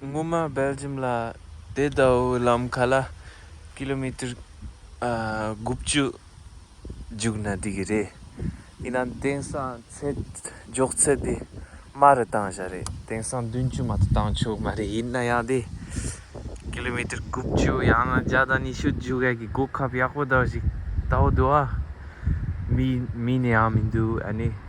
སྔོན་མ་སྦེལ་ལྗིམ་ལ་དེ་ལྟ་བུའི་ལམ་ཁ་ལ་ཀི་ལོ་མི་ཏེར་དགུ་བཅུ་རྒྱུགས་ན་འགྲིག་གི་རེད། ཡིན་ནའང་དེང་སང་ཚད་འཇོག་ཚད་དེ་དམའ་རུ་བཏང་བཞག་རེད། དེང་སང་བདུན་བཅུ་མ་གཏོགས་བཏང་ཆོག་མ་རེད་ཡིན་ན་ཡང་དེ་ཀི་ལོ་མི་ཏེར་དགུ་བཅུ་ཡང་ན་བརྒྱ་དང་ཉི་ཤུ་རྒྱུགས་ཡག་གི་གོ་སྐབས་ཡག་པོ་དག་ཞིག་ལྟ་བུ་འདུག་ཨ། མིན་ནའང་མི་འདུག་ཨ་ནི།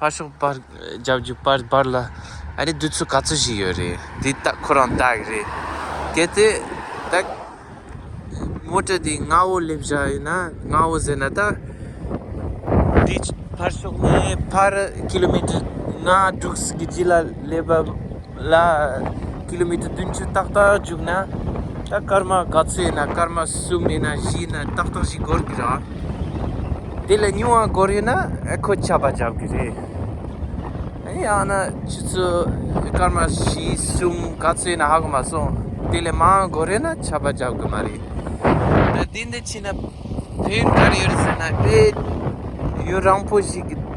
ཕར་ཞོག་པར་རྒྱབ་ཀྱི་པར་འབར་ལ་ཨ་རེ་དུས་ཚོད་ག་ཚོད་ཞིག་ཡོད་རེད་དེ་ལྟ་ཁོ་རང་ལྟ་གི་རེད་གལ་ཏེ་ད་མོ་ཏྲ་དེ་ང་བོ་སླེབས་བཞག་ཡོད་ན་ང་བོ་ཟེར་ན་ད་དེ་ཕར་ཞོག་ནས་ཕར་ཀི་ལོ་མི་ཏྲ་ལྔ་དྲུག་གི་རྗེས་ལ་སླེབས་པ་ལ། ཀི་ལོ་མི་ཏེར་བདུན་ཅུ་ཏག་ཏག་རྒྱུགས་ན། ད་སྐར་མ་ག་ཚོད་ཡིན་ན་སྐར་མ་གསུམ་མིན་ན་བཞི་ཡིན་ན་ཏག་ཏག་ཞིག་འགོར་གྱི་རེད། དེ་ལས་ཉུང་བ་འགོར་ཡོད་ན་ཁོས་ཆད་པ་བརྒྱབ་གི་རེད། ཡང་ན་ཆུ་ཚོད་སྐར་མ་བཞི་གསུམ་ག་ཚོད་ཡིན་ན་ཧ་གོ་མ་སོང། དེ་ལས་མང་བ་འགོར་ཡོད་ན་ཆད་པ་བརྒྱབ་གི་མ་རེད། ད་དེ་འདི་ཕྱིན་ན་བོད་ག་རེ་ཡོད་རེད་ཟེར་ན་བོད་ཡུལ་རང་བོ་ཞིག་གི།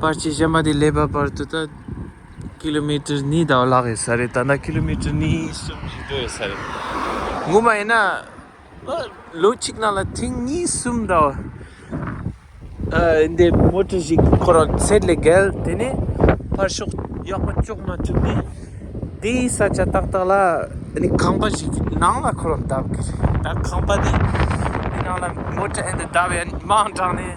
པར་ཆས་གཞན་པ་དེ་ལས་པར་བར་དུ་ད་ཀི་ལོ་མི་ཀྲི་གཉིས་དང་ལྷག་ཡོད་ས་རེད་ད་ནངས་ཀི་ལོ་མི་ཀྲི་གཉིས་གསུམ་བཞི་འགྲོ་ཡོད་ས་རེད་ངོ་མ་ཡིན་ན་ལོ་གཅིག་ནང་ལ་ཐེངས་གཉིས་གསུམ་ད་འདི་མོ་ཀྲི་ཞིག་ཁོ་རང་ཚད་ལས་བརྒལ་དེ་ནས་ཕར་ཞོག་ཡག་པ་ཅོག་མ་ཐུབ་ནས་དེ་ས་ཆ་ཏག་ཏག་ལ་ནི་ཁང་པ་ཞིག་གི་ནང་ལ་ཁོ་རང་བརྡབས་ཀྱི་རེད་ད་ཁང་པ་དེ་ནང་ལ་མོ་ཀྲི་ཨེ་འདི་བརྡབས་ཡ་ནི་མང་དྲགས་ནས་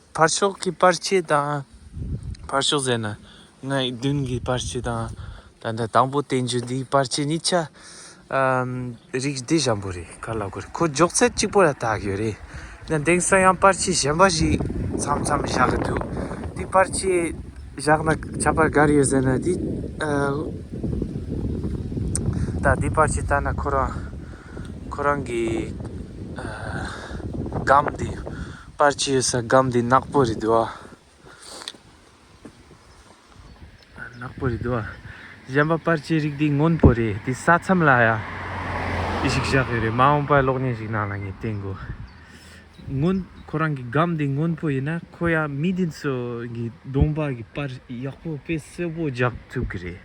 ཕར་ཕྱོགས་ཀྱི་པར་ཆས་དང། ཕར་ཕྱོགས་ཟེར་ན་ངའི་མདུན་གྱི་པར་ཆས་དང། ད་ལྟ་དང་པོ་བསྟན་རྒྱུ་འདིའི་པར་ཆས་གཉིས་ཆ། རིགས་བདེ་ཞན་པོ་རེད་ག་ལ་དགོས་རེད་ཁོ་འཇོག་ཚད་གཅིག་པོ་ལ་བཏགས་ཡོད་རེད། ཡང་དེང་སང་ཡང་པར་ཆས་གཞན་པ་ཞིག་མཚམས་མཚམས་བཞག་གི་འདུག་དེ་པར་ཆས་བཞག་ན་ཁྱབ་པར་ག་རེ་ཡོད་ཟེར་ན་དེ། ད་དེ་པར་ཆས་བཏགས་ན་ཁོ་རང་ཁོ་རང་གི། སྒམ་དེ། པར་གྱི་ཡོད་ས་སྒམ་འདི་ནག་པོ་རེད་འདུག་ཨ། ནག་པོ་རེད་འདུག་ཨ། གཞན་པ་པར་གྱི་རིགས་འདི་སྔོན་པོ་རེད་འདི་ས་མཚམས་ལ་ཡ། ཅི་ཞིག་བཞག་ཡོད་རེད་མ་འོངས་པར་གློག་བརྙན་ཞིག་ནང་ལ་ངས་བསྟན་དགོས། སྔོན་ཁོ་རང་གི་སྒམ་འདི་སྔོན་པོ་ཡིན་ན་ཁོ་ཡང་མི་འདི་ཚོ་གི་གདོང་པར་གྱི་པར་ཡག་པོ་དཔེ་གསལ་པོ་རྒྱག་ཐུབ་གི་རེད།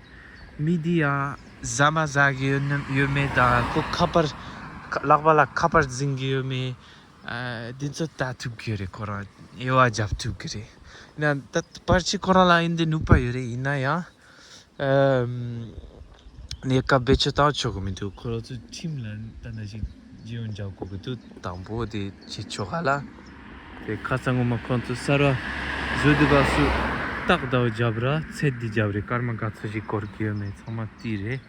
མི་འདི་ཡང་བཟའ་མ་བཟའ་གི་ཡོད་མེད་དང་ཁོ་ཁ་པར་ལག་པ་ལ་ཁ་པར་འཛིན་གི་ཡོད་མེད་འདི་ཚོ་ལྟ་ཐུབ་ཀྱི་རེད་ཁོ་རང་དབྱེ་བ་རྒྱབ་ཐུབ་ཀྱི་རེད། ཡང་ད་ལྟ་ཕར་ཕྱིན་ཁོ་རང་ལ་ཡིན་དུ་ནུས་པ་ཡོད་རེད་ཡིན་ན་ཡང། གནས་སྐབས་བེད་སྤྱོད་བཏང་ཆོག་གི་མི་འདུག་ཁོ་རང་ཚོའི་ཁྲིམས་ལ་ལྟ་ན་ཞིག་རྗེས་ཡོང་རྒྱག་དགོས་ཀྱི་འདུག་དང་པོ་དེ་བྱེད་ཆོག་ག་ལ། དེ་ཁ་ཚ་ངོ་མ་ཁོང་ཚོ་གསར་བ་བཟོས་འདུག་ག་སུ་རྟག་ལྟ་བུ་རྒྱབ་ར་ཚད་འདི་རྒྱབ་རེད་སྐར་མ་ག་ཚོད་ཞིག་བསྐོར་གྱི་ཡོད་མེད་ཚང་མ་བལྟས་རེད།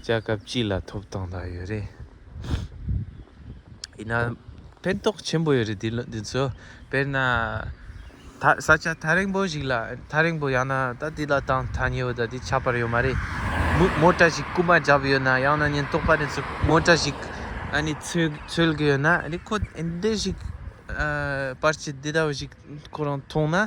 བཅའ་སྐབས་སྤྱི་ལ་ཐོབ་ཐང་དག་ཡོད་རེད། ཡིན་ནའང་ཕན་ཐོགས་ཆེན་པོ་ཡོད་རེད་འདི་ཚོ་དཔེར་ན། ས་ཆ་ཐག་རིང་པོ་ཞིག་ལ་ཐག་རིང་པོ་ཡང་ན་ད་དེ་ལ་ཐང་ཐག་ཉེ་བོ་ད་དེ་ཆགས་པར་ཡོད་མ་རེད། མོ་ཏྲ་ཞིག་རྐུན་མ་བརྒྱབ་ཡོད་ན་ཡང་ན་ཉེན་རྟོག་པ་ནས་མོ་ཏྲ་ཞིག་འཚོལ་གྱི་ཡོད་ན། འདི་ཞིག་པར་ཆས་འདི་འདྲ་བ་ཞིག་ཁོ་རང་མཐོང་ན།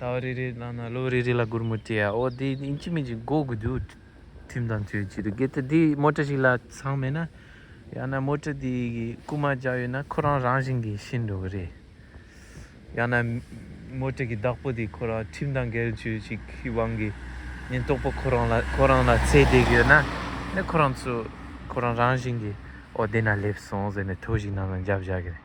ཟླ་བ་རེ་རེ་བླངས་ན་ལོ་རེ་རེ་ལ་སྒོར་མོ་སྤྲད་ཨོ་དེ་ཨིན་ཇི་མིན་ཅིག་འགོག་དགོས་འདུག་ཁྲིམས་དང་ཆོས་ཅི་རིགས་གལ་ཏེ་དེ་དམོད་ཁྲ་ཞིག་ལ་ཚང་མེད་ན་ཡང་ན་དམོད་ཁྲ་དེ་གི་རྐུ་མ་རྒྱག་ཡོད་ན་ཁོ་རང་རང་བཞིན་གྱི་ཤི་འགྲོ་གི་རེད། ཡང་ན་དམོད་ཁྲ་གི་བདག་པོ་དེ་ཁོ་རང་ཁྲིམས་དང་འགལ་ཆོས་ཅིག་གི་དབང་གིས་ཉིན་རྟོག་པོ་ཁོ་རང་ལ་ཁོ་རང་ལ་ཚེ་རྡེག་ཡོད་ན་ནི་ཁོ་རང་ཚོས་ཁོ་རང་རང་བཞིན་གྱི་ཨོ་དེ་ན་སླེབས་སོང་ཟེར་ནས་ཐོ་ཞིག་ནང་ལ་འཇབ་བཞག་གི་རེད།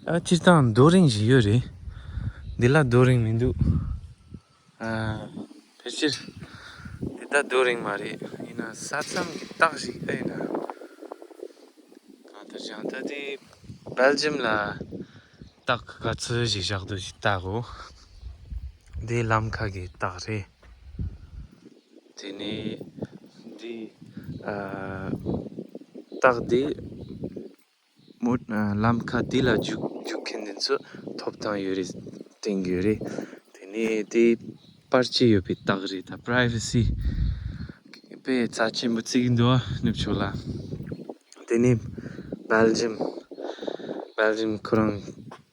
སྤྱིར་བཏང་རྡོ་རིང་བཞི་ཡོད་རེད། འདི་ལ་རྡོ་རིང་མི་འདུག། ཕལ་ཆེར་འདི་དག་རྡོ་རིང་མ་རེད། ཡིན་ན་ས་མཚམས་ཀྱི་རྟགས་ཤིག་ཨེ་ཡིན་ནམ། གང་ལྟར་ཀྱང་ད་ལྟའི་སྦེལ་ཇམ་ལ་རྟགས་ག་ཚོད་ཞིག་བཞག་འདུག་ཅེས་བལྟ་གོ། འདི་ལམ་ཁ་གི་རྟགས་རེད། དེ་ནས་འདི་རྟགས་འདི། མོད། ལམ་ཁ་དེ་ལ་འཇུག་མཁན་དེ་ཚོས་ཐོབ་ཐང་ཡོད་རེད་དྲན་དགོས་རེད། དེ་ནས་དེ་པར་ཆས་ཡོད་པའི་རྟགས་རེད་ད། Privacy། པའི་རྩ་ཆེན་པོ་བརྩིགས་འདུག་ནུབ་ཕྱོགས་ལ། དེ་ནས། Belgium། Belgium ཁོ་རང།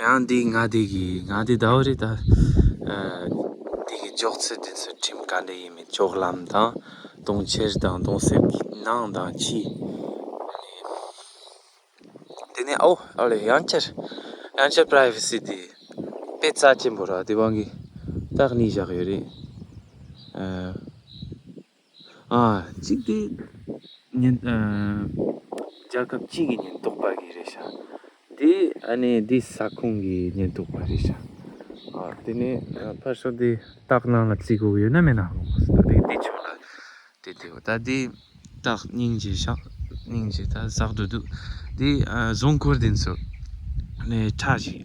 ཡང་འདི་ང་འདི་གི་ང་འདི་ཟླ་བ་རེ་ད་འདི་གི་འཇོག་ཚེ་འདི་ཚོ་ཁྲིམས་ག་འདྲ་ཡིན་མིན་ལྕོག་ལམ་དང་དུང་ཕྱེར་དང་དུང་གསེབ་ཀྱི་ནང་དང་ཕྱི། དེ་ནས་ཨོ་ཨོ་ལེ་ཡང་བསྐྱར་ཡང་བསྐྱར privacy དེ་དཔེ་རྩ་ཆེན་པོ་ར་དེ་བང་གི་སྟག་གཉིས་བཞག་ཡོད་རེད། གཅིག་སྟེ། ཉིན། རྒྱལ་ཁབ་གཅིག་གི་ཉེན་རྟོག་པ་གི་རེད་བྱ། དེ་ཨ་ནི་དེ་ས་ཁོངས་ཀྱི་ཉེན་རྟོག་པ་རེད་བྱ། དེ་ནས་ཕར་ཕྱོགས་དེ་སྟག་ནང་ལ་བརྩིས་དགོས་ཡོད་ན་མེད་ན། དེ་ཆོག་ལ། དེ་དེ་བ་ད་དེ་སྟག་སྙིང་རྗེ་ཤག་སྙིང་རྗེ་ད་ཟག་འགྲོ་འདུག་དེ་བཟོ་འཁོར་དེ་ཚོ། ནས་ཁྲག་ཞིག།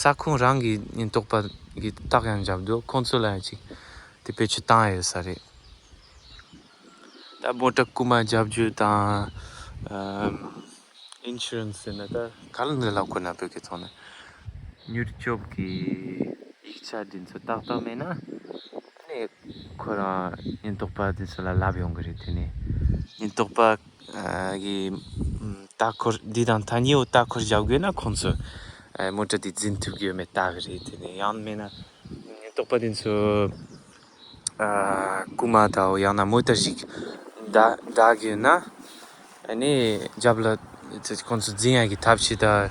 ས་ཁོངས་རང་གི་ཉེན་རྟོག་པ་གི་རྟགས་ཡང་འཇབ་འདུག་ཁོང་ཚོ་ལ་ཡང་ཅིག་དེ་བེད་སྤྱོད་བཏང་ཡོད་ས་རེད། ད་དམོད་དྲག་རྐུ་མ་རྒྱབ་སྐྱོར་དང insurance ཟེར་ན་ད་ག་ལ་འདི་ལ་དགོས་ན་བོད་སྐད་ཐོག་ནས་མྱུར་སྐྱོབ་ཀྱི་ཡིག་ཆ་དེ་ཚོ་ཏག་ཏག་མེད་ན་ཁོ་རང་ཉེན་རྟོག་པ་དེ་ཚོ་ལ་ལབ་ཡོང་གི་རེད་དེ་ནས་ཉེན་རྟོག་པ། ལྟ་འཁོར་འདི་དང་ཐ་སྙད་ལྟ་འཁོར་བཞག་དགོས་ན་ཁོང་ཚོས་མོ་ཏྲ་འདི་འཛིན་ཐུབ་ཀྱི་ཡོད་མེད་བལྟ་གི་རེད་དེ་ནས་ཡང་མིན་ན་ཉེན་རྟོག་པ་དེ་ཚོས་རྐུ་མ་དང་ཡང་ན་མོ་ཏྲ་ཞིག་བདག་གི་ཡོད་ན་ནས་རྒྱབ་ལ་ཁོང་ཚོས་འཛིན་ཡག་གི་ཐབས་བྱེད་དང་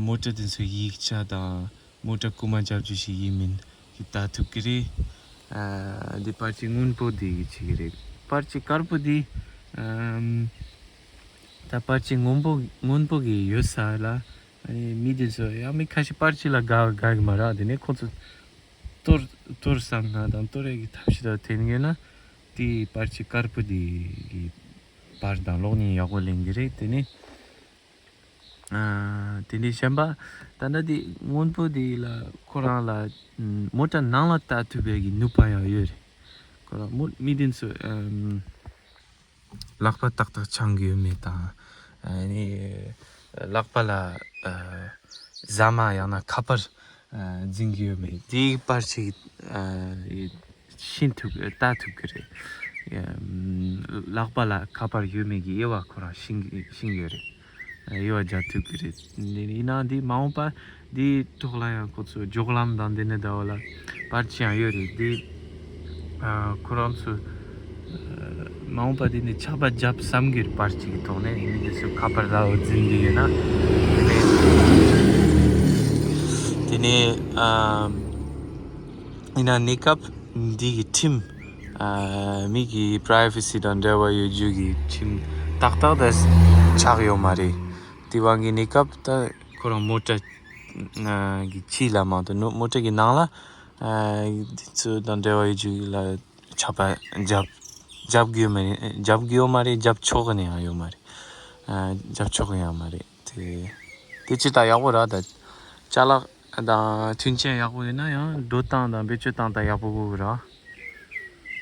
མོ་ཏྲ་དེ་ཚོའི་ཡིག་ཆ་དང་མོ་ཏྲ་རྐུ་མ་རྒྱབ་རྒྱུ་ཞིག་ཡིན་མིན་གྱི་བལྟ་ཐུབ་ཀྱི་རེད། འདི་པར་ཆས་སྔོན་པོ་དེ་གི་བྱེད་ཀྱི་རེད། པར་ཆས་དཀར་པོ་དེ། ད་པར་ཆས་སྔོན་པོ་སྔོན་པོ་གི་ཡོད་ས་ལ། མི་དེ་ཚོ་ཡང་མི་ཁ་ཤས་པར་ཆས་ལ་དགའ་དགའ་གི་མ་རག་དེ་ནས་ཁོ་ཚོ། ལྟོས་ལྟོས་བསམ་ན་དང་ལྟོས་རེག་གི་ཐབས་ཤེས་དང་ཐེན་ངེས་ན། དེ་པར་ཆས་དཀར་པོ་དེ་གི་པར་དང་གློག་བརྙན་ཡག་པོ་ལེན་གྱི་རེད་དེ་ནས། དེ་ནས་བྱམས་པ་ད་ལྟ་དེ་སྔོན་པོ་དེ་ལ་ཁོ་རང་ལ་མོ་ཏྲ་ནང་ལ་ལྟ་ཐུབ་པའི་གི་ནུས་པ་ཡང་ཡོད་རེད། ཁོ་རང་མོ་མི་དེ་ཚོ་ལག་པ་ཏག་ཏག་འཆང་གི་ཡོད་མེད་དང། ལག་པ་ལ་ཟ་མ་ཡང་ན་ཁ་པར་འཛིན་གྱི་ཡོད་མེད་དེ་པར་ཞིག་ཤེས་ཐུབ་ལྟ་ཐུབ་ཀྱི་རེད། ལག་པ་ལ་ཁ་པར་ཡོད་མེད་ཀྱི་དབྱེ་བ་ཁོ་རང་ཤེས་ཡོད་རེད། དབྱེ་བ་རྒྱག་ཐུབ་ཀྱི་རེད། ཡིན་ན་འདི་མ་འོངས་པ་འདིའི་ཐོག་ལ་ཡང་ཁོ་ཚོས་སྒྱོགས་ལམ་དང་འདི་ནི་ཟླ་བ་ལ་པར་ཅི་ཡང་ཡོད་རེད་དེ། ཁོ་རང་ཚོས་མ་འོངས་པ་དེ་ནས་ཆགས་པ་བརྒྱབ་བསམ་གྱི་པར་གཅིག་གི་ཐོག་ནས་ཡིན་མིན་དེ་ཚོས་ཁ་པར་ལའོ་འཛིན་གྱི་ཡོད་ན་དེ་ནས་ཡིན་ན་གནས་སྐབས་འདི་གི་ཁྲིམས་མིག་གི privacy དང་འབྲེལ་བ་ཡོད་རྒྱུ་གི་ཁྲིམས་ཏག་ཏག་དེ་ཆགས་ཡོད་མ་རེད་དེ་བ་གི་གནས་སྐབས་ད་ཁོ་རང་མོ་ཏྲ་གི་ཕྱི་ལ་མང་དུ་མོ་ཏྲ་གི་ནང་ལ་འདི་ཚོ་དང་འབྲེལ་བ་ཡོད་ཅིག་ལ་ཆགས་པ་རྒྱབ་རྒྱབ་གི་ཡོད་མ་རེད་རྒྱབ་གི་ཡོད་མ་རེད་རྒྱབ་ཆོག་གི་ནི་ཡང་ཡོད་མ་རེད་རྒྱབ་ཆོག་གི་ཡང་མ་རེད་དེ་དེ་ཅི་ལྟར་ཡག་པོ་ར་དང་ཅག་ལགས་དང་མཐུན་རྐྱེན་ཡག་པོ་ཡོད་ན་ཡང་སྒྲོ་བཏགས་དང་བེད་སྤྱོད་བཏང་དང་ཡག་པོ་དགོས་གི་ར་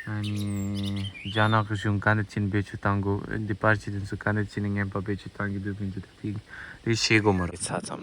ཨཱ་ནི་རྒྱ་ནག་གི་གཞུང་ག་འདི་ཅི་ནི་བེད་སྤྱོད་བཏང་དགོས་འདི་པར་གྱི་དེ་ཚོ་ག་འདི་ཅི་ནི་ངན་པ་བེད་སྤྱོད་བཏང་གི་འདུག་གི་འདུག་ད་དེ་དེ་བྱེད་དགོས་མ་རེད་ས་ཙམ།